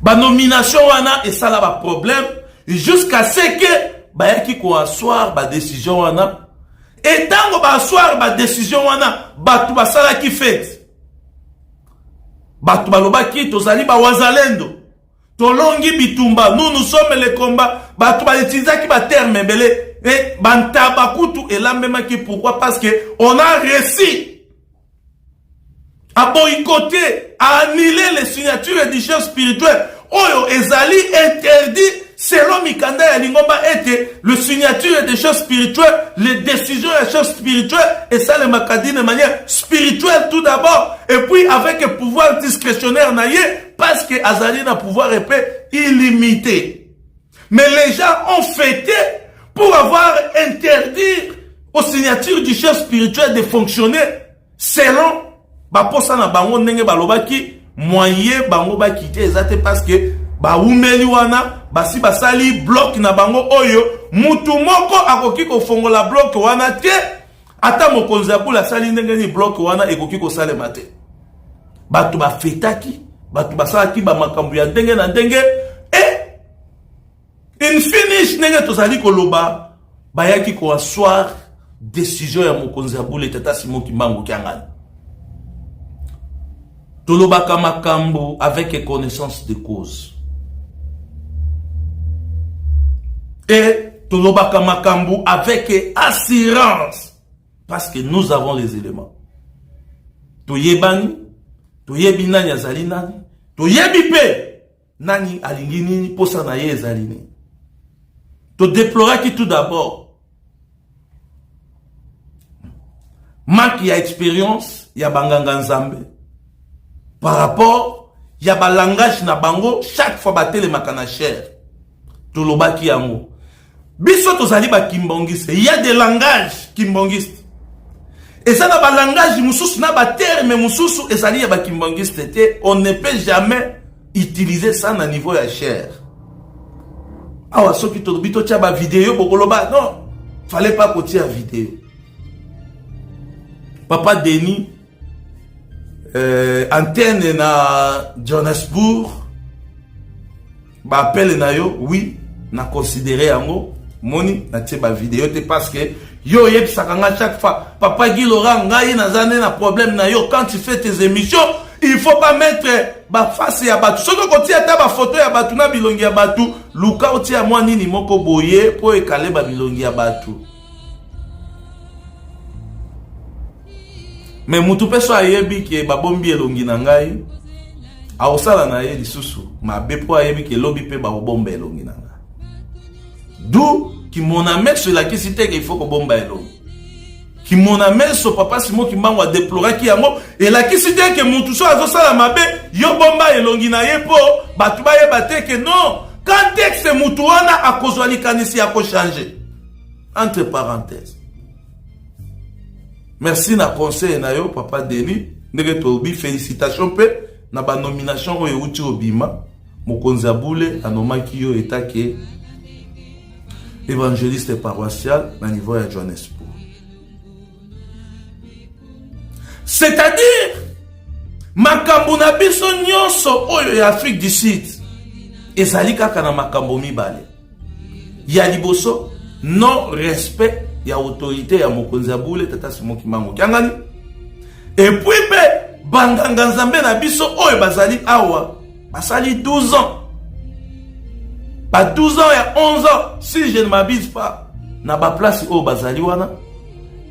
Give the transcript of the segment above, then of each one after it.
Ba nomination wana esala ba problème jusqu'à ce que bayaki ko asseoir ba décision wana et tango ba asseoir ba décision wana bato basalaki fete bato balobaki tozali ba wazalendo tolongi bitumba nous nous sommes les combats bato bautilisaki baterme ebele e bantaba kutu elambemaki pourquoi parce que on a réussi a boycotter, a annuler les signatures et déchets spirituels oyo ezali interdit selon mikanda ya lingomba ete le signature des choses spirituelles les décisions ya choses spirituelles esalemaka d'une manière spirituelle tout d'abord et puis avec le pouvoir discrétionnaire na ye parce que azali na pouvoir epe illimité Mais les gens ont fêté pour avoir interdit aux signatures du chef spirituel de fonctionner selon baposa na bango ndenge balobaki moyen bango bakite eza te parce que baumeli wana basi basali bloc na bango oyo mutu moko akoki kofongola bloc wana te ata mokonzi ya bule asali ndenge nini bloke wana ekoki kosalema te bato bafetaki bato basalaki bamakambo ya ndenge na ndenge e infinish ndenge tozali koloba bayaki koassoir décision ya mokonzi ya bule tata simon kimbangu kiangani Tolobaka makambo avec connaissance de cause. Et tolobaka makambo avec assurance parce que nous avons les éléments. Toyebani, toyebi nani azali nani, toyebi pe Nani alingi nini posa na ye ezali nini? To deploraki tout d'abord manque ya expérience ya banganga nzambe par rapport ya balangage na bango chaque fois batelemaka na chere tolobaki yango biso tozali ba kimbongiste il y a des langages kimbongiste eza na ba langage mosusu na ba terme mosusu ezali ya ba kimbongiste te on ne peut jamais utiliser ça na niveau ya chair awa soki tolobi totya ba video bokoloba non fallait pas kotia video papa denis euh, antenne na johannesburg ba appel na yo oui na considérer yango moni na tie ba vidéo te parce que yo oyebisaka nga chaque fois papa Guy Laurent ngai naza nde na problème na yo quand tu fais tes émissions il faut pas mettre ba face ya batu soki okotia ata ba photo ya batu na bilongi ya batu luka otia mwa nini moko boye po ekale ba bilongi ya batu me mutu mpe so ayebi ke babombi elongi na ngai akosala na ye lisusu mabe mpo ayebi ke lobi mpe bakobomba elongi na ngai du kimona meso elakisi te ke ifo kobomba elongi kimona meso papa simo kimbangu adeploraki yango elakisi te ke mutu so azosala mabe yo bomba elongi na ye mpo bato bayeba te ke non contexte mutu wana akozwa likanisi ya kochange entre parenthèse merci na conseil na yo papa denis ndenge tolobi félicitation mpe na banomination oyo euti obima mokonzi ya bule anomaki yo etake évangéliste paroissial na niveau ya johannesburg c'est-à-dire makambo na biso nyonso oyo ya afrique du sud ezali kaka na makambo mibale ya liboso non respect ya autorité ya mokonzi ya bule tata simo kimbangu kiangani epuis mpe banganga nzambe na biso oyo bazali awa basali 12 ans ba 12 ans ya 11 ans si je ne m'abuse pas na baplace oyo bazali wana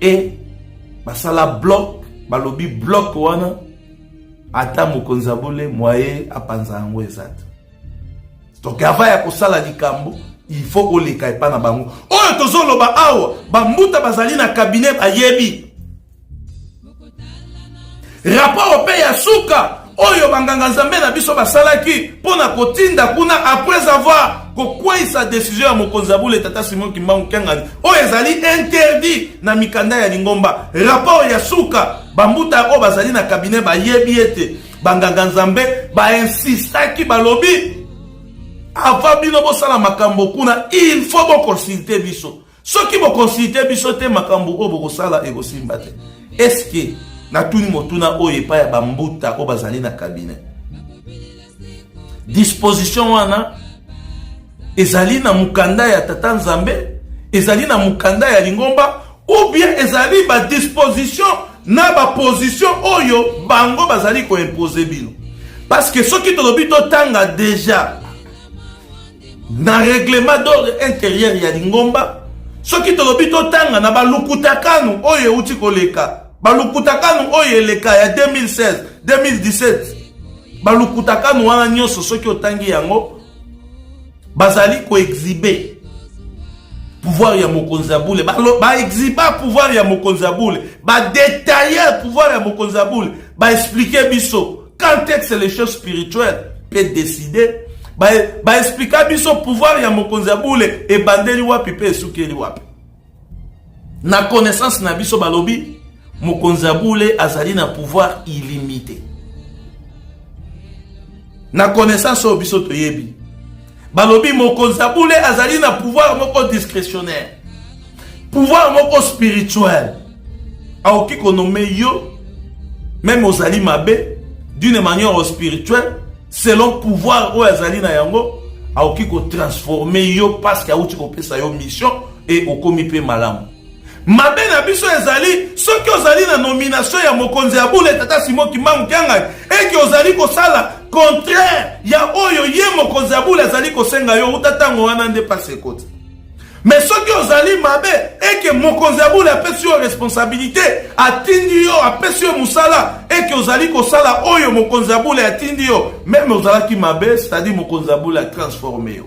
e basala bloc balobi bloc wana ata mokonzi ya bule mwaye apanza yango eza te donc avant ya kosala likambo il faut oleka epa na bango oyo tozoloba awa bambuta bazali na kabinet bayebi rapport mpe ya suka oyo banganga nzambe na biso basalaki mpo na kotinda kuna après avoir kokweisa desizio ya mokonzi ya bule tata simon kimbangu kiangani oyo ezali interdit na mikanda ya lingomba rapport ya suka bambuta oyo bazali na kabinet bayebi ete banganganzambe bainsistaki balobi avant bino bosala makambo kuna il faut bokonsulte biso soki bokonsulte biso te makambo oyo bokosala ekosimba te eske natuni motuna oyo epai ya bambuta oyo bazali na kabine disposition wana ezali na mokanda ya tata nzambe ezali na mokanda ya lingomba Ou bien ezali ba disposition na ba position oyo bango bazali ko imposer bino. Parce que soki tolobi totanga deja na règlement d'ordre intérieur ya lingomba soki tolobi totanga na balukutakano oyo euti koleka balukutakano oyo eleka ya 2016 2017 balukutakano wana nyonso soki otangi yango bazali koexhibe pouvoir ya mokonzi ya bule baexhiba pouvoir ya mokonzi ya bule badetaille pouvoir ya mokonzi ya bule baexplike biso quand est-ce que les choses spirituelles peut décider baexplika biso pouvoir ya mokonzi ya bule ebandeli wapi mpe esukeli wapi Na connaissance na biso balobi mokonzi ya bule azali na pouvoir illimité. Na connaissance oyo biso toyebi balobi mokonzi ya bule azali na pouvoir moko discrétionnaire, pouvoir moko spirituel. Aoki konome yo meme ozali mabe d'une manière spirituelle selon pouvoir oyo azali na yango akoki kotransforme yo paske auti kopesa yo mission e okomi mpe malamu mabe na biso ezali soki ozali na nomination ya mokonzi ya bule tata simo kimbangu kiangani eke ozali kosala contraire ya oyo ye mokonzi ya bule azali kosenga yo uta ntango wana nde pasi ekoti Mais soki ozali mabe et que mokonzi ya bule apesi yo responsabilité, atindi yo, apesi yo musala et que ozali kosala oyo mokonzi ya bule atindi yo, meme ozalaki mabe, c'est-à-dire mokonzi ya bule a transformer yo.